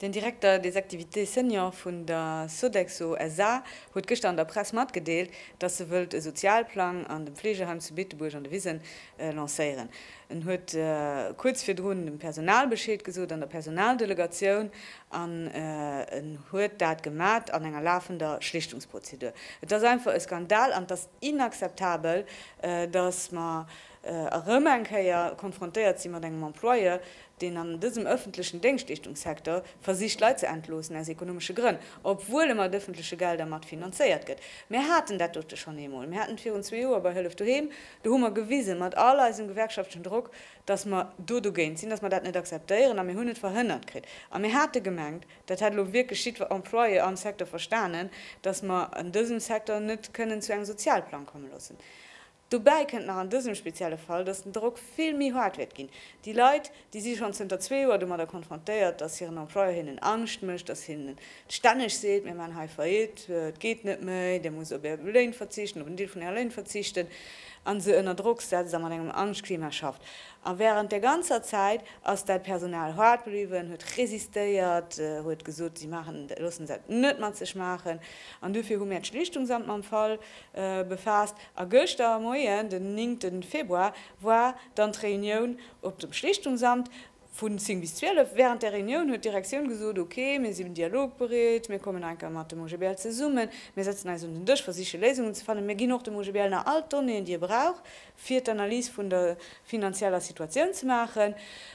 Den Directeur des activités seniors vun der Sodexo SA. huet gëschter an der Press matgedeelt, dass se wëllt e Sozialplang an dem Fleegeheim zu Beetebuerg an de Wisen lancéieren. En huet kuerz virdrun dem Personal Bescheed gesot an der Personaldelegatioun an en huet dat gemat an enger lafender Schlichtungsprozedur. Et ass einfach e Skandal an et ass inakzeptabel, datt mer erëm eng Kéier konfrontéiert si mat engem Employeur, deen an dësem ëffentlechen Déngschtleeschtungssecteur versicht Leit ze entloossen aus ekonomesche Grënn, obwuel e mat ëffentleche Gelder mat finanzéiert gëtt. Mir haten dat dote schonn eemol. Mir haten et virun zwee Joer bei Hëllef Doheem, Do hu mer gewisen, mat all eisem gewerkschaftlechen Drock, dass mer do dogéint sinn, dass mer dat net akzeptéieren, a mir hunn et verhënnert kritt. A mir hate gemengt, dat hätt elo wierklech jiddwer Employé am Secteur verstanen, dass mer an dësem Secteur net kënnen zu engem Sozialplang komme loossen. Dobäi kënnt nach an dësem spezielle Fall, dass den Drock vill méi haart wäert ginn. Déi Leit, Déi si schonn zënter zwee Joer domadder konfrontéiert, datt hiren Employeur hinnen Angscht mécht, datt hien stänneg seet, Mir maachen hei Faillite, et geet net méi, Dir musst op Är Léin verzichten, op en Deel vun Äre Léin verzichten, a se ënner Drock setzt a mat engem Angschtklima schafft. A wärend där ganzer Zäit ass dat Personal hart bliwwen, huet resistéiert, huet gesot, si maachen, loossen dat net mat sech maachen. An dofir hu mär d'Schlichtungsamt mam Fall befaasst. A gëschter Moien, den 9 Februar, war dann d'Reunioun. Op dem Schlichtungsamt, vu 10 bis 12. Während der Reunioun huet d'Direktioun gesot, Ok, mir sinn dialogbereet, mir kommen nach eng Kéier mat dem OGBL zesummen, mir setzen eis un den Dësch, versiche Léisungen ze fannen. Mir ginn och dem OGBL nach all d'Donnéeën, déi e brauch, fir d'Analys vun der finanzieller Situatioun ze maachen.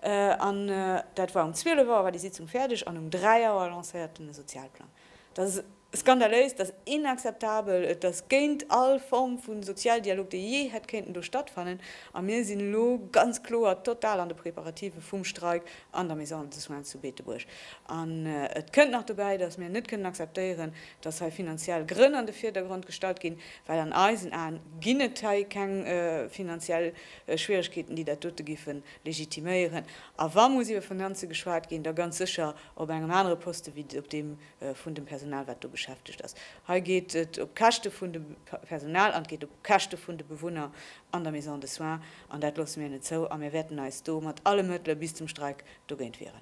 An dat war um 12 Auer war déi Sitzung fäerdeg an um 3 Auer lancéierten e Sozialplang. Dat ass skandaléis, dat ass inakzeptabel, et ass géint all Form vu Sozialdialog, dee jee hätt kéinten do stattfannen. A mir sinn elo ganz kloer total an de Preparative vum Streik an der Maison de soins zu Beetebuerg. An et kënnt nach dobäi, dass mir net kënnen akzeptéieren, dass hei finanziell Grënn an de Virdergrond gestallt ginn, well an eisen Aen ginn et hei keng finanziell Schwieregkeeten, déi dat dote géife legitiméieren. A wa muss iwwer Finanze geschwat ginn, da ganz sécher op engem anere Poste wéi op deem vun dem Personal, wat do beschäftegt ass. Hei geet et op d'Käschte vun dem Personal an et geet op d'Käschte vun de Bewunner an der Maison de soins. An dat loosse mir net zou a mir wäerten eis do mat alle Mëttele bis zum Streik dogéint wieren.